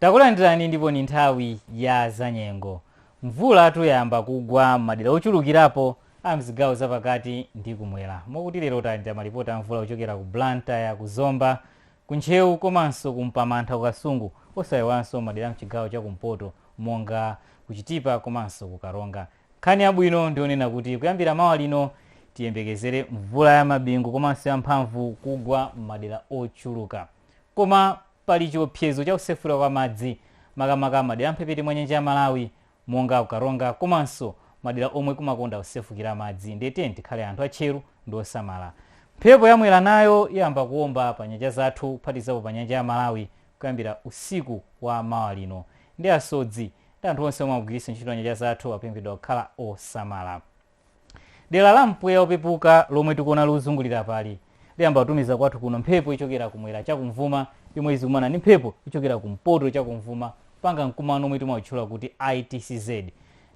Takulandirani ndipo ni nthawi ya zanyengo. Mvulatu yayamba kugwa m'madera ochulukirapo a m'zigawo zapakati ndi kumwera. Mokuti lero talandira malipoti a mvula kuchokera ku Blantyre, ku Zomba, ku Ntcheu komanso ku Mpamantha ku Kasungu osayiwalanso m'madera a m'chigawo cha kumpoto monga ku Chitipa komanso ku Karonga. Nkhani yabwino ndiyonena kuti kuyambira mawa lino tiyembekezere mvula ya mabingu komanso ya mphamvu kugwa m'madera ochuluka. Koma pali chiopsezo cha kusefukira kwa madzi makamaka madera a mphepete mwa nyanja ya Malawi monga ku Karonga komanso madera omwe kumakonda kusefukira madzi ndiye tiyeni tikhale anthu atcheru ndi osamala. Mphepo ya Mwera nayo iyamba kuomba pa nyanja zathu kuphatikizapo pa nyanja ya Malawi kuyambira usiku wa mawa lino ndiye asodzi ndi anthu onse omwe amagwiritsa ntchito nyanja zathu akupemphedwa kukhala osamala. Dera la mpweya opepuka lomwe tikuona likuzungulira apali, liyamba kutumiza kwathu kuno mphepo yochokera kumwera chakumvuma yomwe izikumana ndi mphepo yochokera kumpoto chakumvuma kupanga mkumano omwe timautchula kuti ITCZ.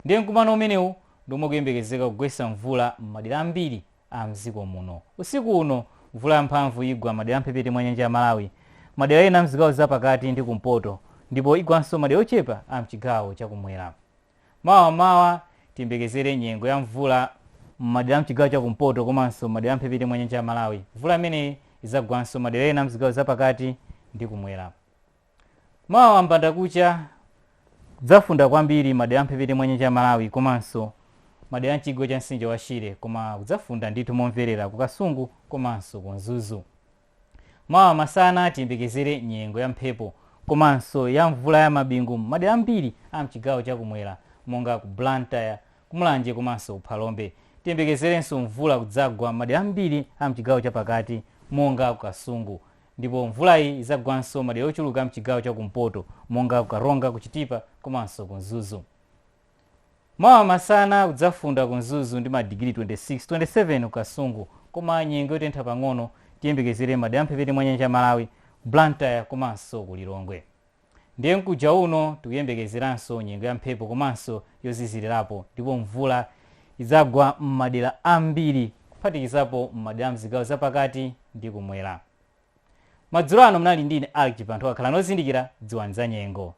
Ndiye mkumano umenewu ndi omwe ukuyembekezeka kugwetsa mvula m'madera ambiri a m'dziko muno. Usiku uno, mvula yamphamvu igwa madera a mphepete mwa nyanja ya Malawi, madera ena a mzigawo za pakati ndi kumpoto ndipo igwanso madera ochepa a mchigawo chakumwera. Mawa m'mawa tiyembekezere nyengo ya mvula m'madera a m'chigawo cha kumpoto komanso m'madera a m'mphepete mwa nyanja ya Malawi. Mvula imeneyi idzagwanso madera ena a m'zigawo za pakati ndi kumwera. Mawa m'mbandakucha kudzafunda kwambiri madera a m'mphepete mwa nyanja ya Malawi komanso madera a m'chigwa cha mtsinje wa Shire koma kudzafunda ndithu momverera ku Kasungu komanso ku Mzuzu. Mawa masana tiyembekezere nyengo ya mphepo komanso ya mvula ya mabingu m'madera ambiri a m'chigawo cha kumwera monga ku Blantyre, ku Mulanje komanso ku Phalombe. Tiyembekezerenso mvula kudzagwa m'madera ambiri a m'chigawo cha pakati monga ku Kasungu. Ndipo mvulayi idzagwanso madera ochuluka a m'chigawo cha kumpoto monga ku Karonga, ku Chitipa komanso ku Mzuzu. Mawa masana kudzafunda ku Mzuzu ndi madigiri 26, 27 ku Kasungu koma nyengo yotentha pang'ono tiyembekezere m'madera a mphepete mwa nyanja ya Malawi, Blantyre komanso ku Lilongwe. Ndiye mkuja uno tikuyembekezeranso nyengo ya mphepo komanso yozizirirapo ndipo mvula idzagwa m'madera ambiri kuphatikizapo m'madera a m'zigawo zapakati ndi kumwera. Madzulo ano munali ndi ine Alick Chibanthowa. Khalani ozindikira, dziwani zanyengo.